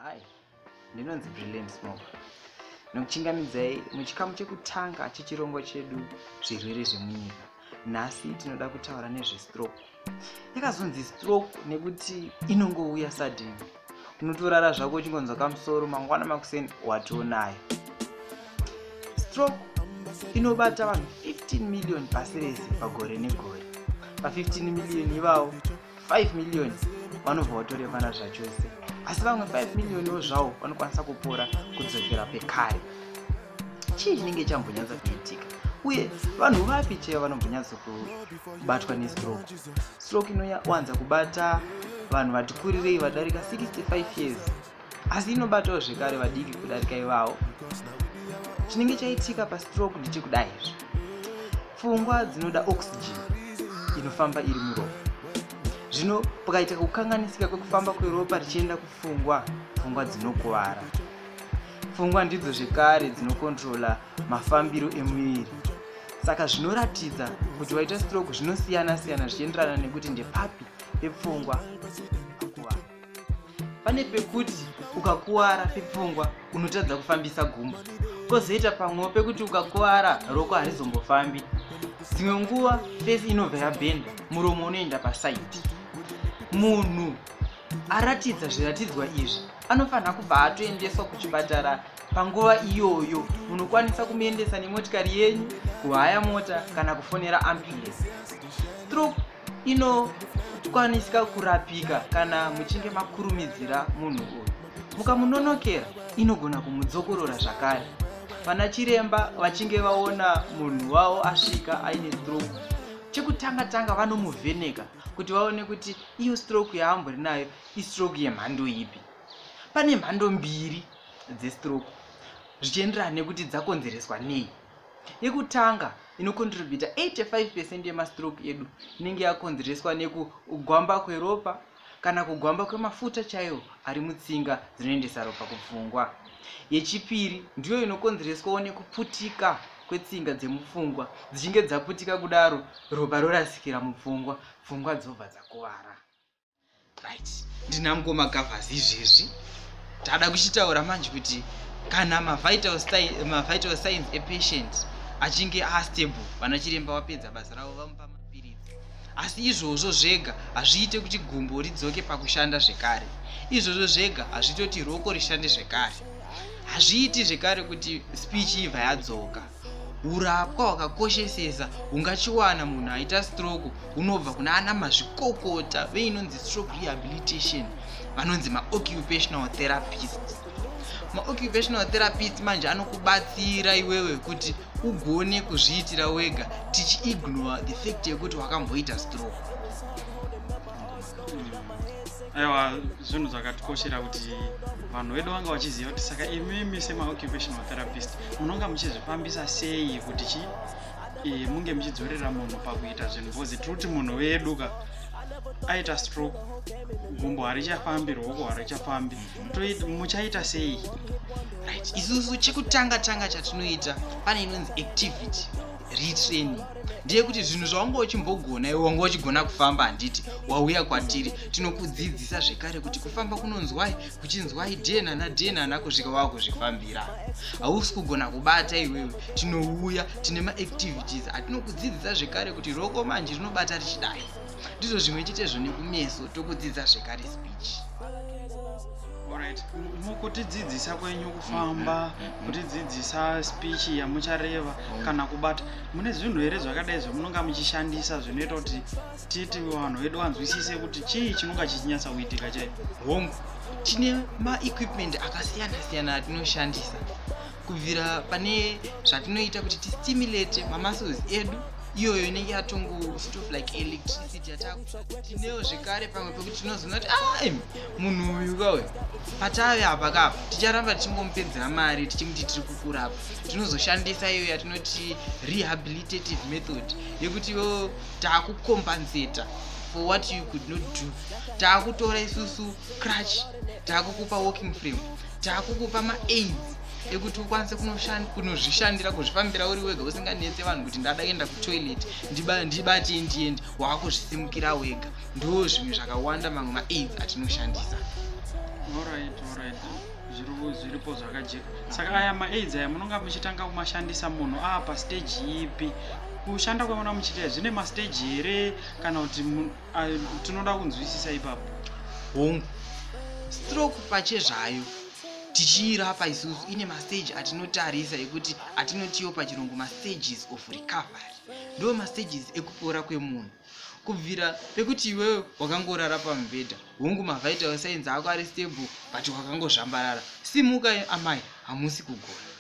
Hi, ndinonzi Brilliant Smoke. Nokuchingamidzai muchikamu chekutanga chechirongo chedu zvirwere zvemunyika. Nhasi tinoda kutaura nezvestroke. Yakazonzi stroke nekuti inongouya sudden. Unotorara zvako uchingonzwa kamusoro mangwana makuseni watonayo. Stroke inobata vanhu 15 million pasi rese pagore negore. Pa 15 million ivawo 5 million vanobva vatorevana zvachose asi vamwe 5 millioniwo zvavo vanokwanisa kupora kudzokera pekare chii chinenge chambonyatsa kuitika uye vanhu vapi chaiva vanombonyatsa kubatwa nestroke stroke inowanza kubata vanhu vati kurirei vadarika 65 years asi inobatawo zvekare vadiki kudarika ivawo chinenge chaitika pastroke ndichekudai izvi pfungwa dzinoda oxygen inofamba iri muropa zvino pakaitika kukanganisika kwekufamba kweropa richienda kupfungwa pfungwa dzinokuvara pfungwa ndidzo zvekare dzinokontrola mafambiro emuviri saka zvinoratidza kuti waita stroke zvinosiyana siyana zvichienderana nekuti ndepapi pepfungwa pane pekuti ukakuwara pepfungwa unotadza kufambisa gumbo kozoita pamwewo pekuti ukakuwara roko harizombofambi dzimwe nguva fesi inobva yabhenda muromo unoenda pasaidi munhu aratidza zviratidzwa izvi anofanira kubva atoendeswa kuchipatara panguva iyoyo munokwanisa kumuendesa nemotikari yenyu kuhaya mota kana kufonera ambulance stroke inokwanisika kurapika kana muchinge makurumidzira munhu uyu mukamunonokera inogona kumudzokorora zvakare vana chiremba vachinge vaona munhu wavo asvika aine stroke chekutanga tanga vanomuvheneka kuti vaone kuti iyo stroke yaambori nayo istroke yemhando ipi pane mhando mbiri dzestroke zvichienderana nekuti dzakonzereswa nei yekutanga inokontributa 85 percent yemastroke edu inenge yakonzereswa nekugwamba kweropa kana kugwamba kwemafuta chaiwo ari mutsinga dzinoendesa ropa kupfungwa yechipiri ndiyo inokonzereswawo nekuputika kwetsinga dzemupfungwa dzichinge dzaputika kudaro ropa rorasikira mupfungwa pfungwa dzobva dzakuvara right ndina mukoma gavhazi izvezvi tada kuchitaura manje kuti kana mavital mavital signs epatient achinge astable vana chiremba vapedza basa ravo vamupa mapiritsi asi izvozvo zvega hazviite kuti gumbo ridzoke pakushanda zvekare izvozvo zvega hazvitoti roko rishande zvekare hazviiti zvekare kuti speech ibva yadzoka urapwa hwakakoshesesa hungachiwana munhu aita stroke hunobva kuna ana mazvikokota veinonzi stroke rehabilitation vanonzi maoccupational therapist maoccupational therapist manje anokubatsira iwewe kuti ugone kuzviitira wega tichiignore the fact yekuti wakamboita stroke aiwa zvinhu zvakatikoshera kuti vanhu vedu vanga vachiziva kuti saka imimi semaoccupational therapist munonga muchizvifambisa sei kuti chi e, munge muchidzorera munhu pakuita zvinhu bcoz tiri kuti munhu wedu ka aita stroke gumbo harichafambi ruoko harichafambi muchaita sei right isusu chekutanga tanga chatinoita pane inonzi activity retraining ndiye kuti zvinhu zvawanga uchimbogona iwe wanga uchigona kufamba handiti wauya kwatiri tinokudzidzisa zvekare kuti kufamba kunonzwai kuchinzwa idna nadna nakusvika wava kuzvifambira hausi kugona kubata iwewe tinouya tine maactivities atinokudzidzisa zvekare kuti roko manje rinobata richidai ndizvo zvimwe chetezvo nekumeso tokudzidza zvekare speech mukutidzidzisa kwenyu kufamba mm, mm, mm, kutidzidzisa speech yamuchareva kana kubata mune zvinhu here zvakadai zvamunonga muchishandisa zvinoita kuti titi vanhu vedu vanzwisise kuti chii chinonga chichinyatsa kuitika chai hongu tine maequipment akasiyana siyana atinoshandisa kubvira pane zvatinoita kuti tistimulate mamuscles edu iyoyo inenge yatongo sort of like electricity yatakutineo zvekare pamwe pekuti tinozoona kuti ai ah, munhu uyu kauyu patave apa kapa ticharamba tichingomupedzera mari tichimuti tiri kukurapa tinozoshandisa iyo yatinoti rehabilitative method yekuti oh, taakukombanzeta for what you could not do taakutora isusu crutch taakukupa walking frame taakukupa maaids ekuti ukwanise kunozvishandira kuzvifambira uri wega usinganetse vanhu kuti ndada kuenda kutoilet ndibate ndiende waakuzvisimukira wega ndo zvimwe zvakawanda mamwe maaids atinoshandisa all right, all right. zviruvu zviripo zvakajeka saka aya maaids aya munonga muchitanga kumashandisa munhu aa pastage ipi kushanda kwemona muchiita zvine mastage here kana kuti tinoda kunzwisisa ipapo hongu stroke pachezvayo tichiirapa isusu ine mastage atinotarisa ekuti atinotiwo pachirungu mastages of recovery ndo mastages ekupora kwemunhu kubvira pekuti iwewe wakangorara pamubhedha hongu mavhaita wesainzi ako ari stable but wakangozvambarara simuka amai hamusi kugona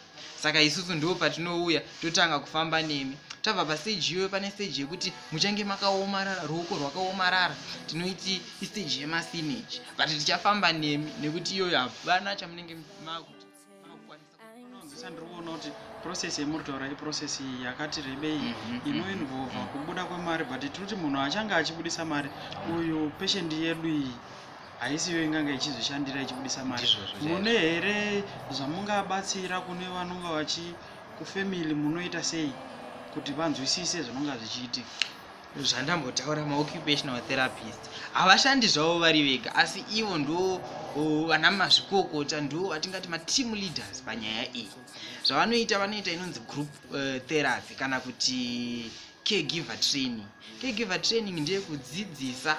saka isusu ndiwo patinouya totanga kufamba nemi tabva pasteji iyoyo pane steji yekuti muchange makaomarara ruoko rwakaomarara tinoiti isteji yemasinage but tichafamba nemi nekuti iyoyo hapana chamunenge makuti ndinoona kuti process yemuritaura iprocess yakati rebei mhm, mhm. inoinvolva kubuda kwemari but tirikuti munhu achange achibudisa mari uyu peshend yedu iyi haisiyo inganga ichizvishandira ichibudisa mari mune here zvamungabatsira kune vanonga vachi kufamily munoita sei kuti vanzwisise zvinonga zvichiitika zvandambotaura maoccupational therapist havashandi zvavo vari vega asi ivo ndo vana mazvikokota ndo vatingati mateam leaders panyaya iyi zvavanoita vanoita inonzi group uh, therapy kana kuti caregiver training caregiver training ndeyekudzidzisa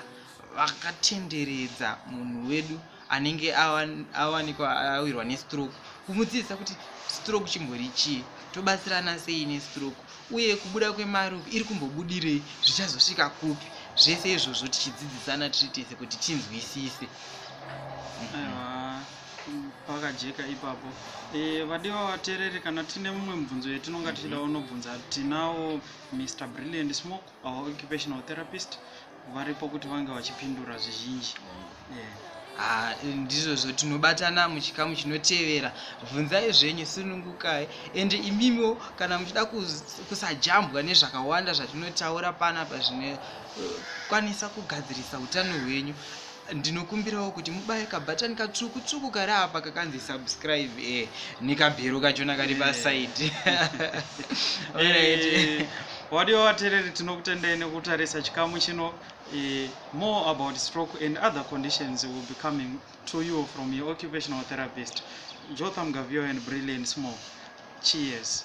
vakatenderedza munhu wedu anenge awanikwa awirwa nestroke kumudzidzisa kuti stroke chimbori chii tobatsirana sei nestroke uye kubuda kwemarup iri kumbobudirei zvichazosvika kupi zvese izvozvo tichidzidzisana tiri tese kuti tinzwisise pakajeka ipapo e, vadiwa vateereri kana tine mumwe mubvunzo yetinonga tichida unobvunza tinawo mr brilliant smoke our occupational therapist varipo kuti vange vachipindura zvizhinji ah, ndizvozvo tinobatana muchikamu chinotevera bvunzai zvenyu sunungukai ende imimiwo kana muchida kusajambwa nezvakawanda zvatinotaura panapa zvinokwanisa eh, kugadzirisa utano hwenyu ndinokumbirawo kuti mubaye kabhatani katsvuku tsvuku kari apa kakanzi subscribe e nekabhero kachona kari pasaidi eh. wadiwa vatereri tinokutendai nekutarisa chikamu chino eh, more about stroke and other conditions will be coming to you from your occupational therapist jotham gavio and brilliant small cheers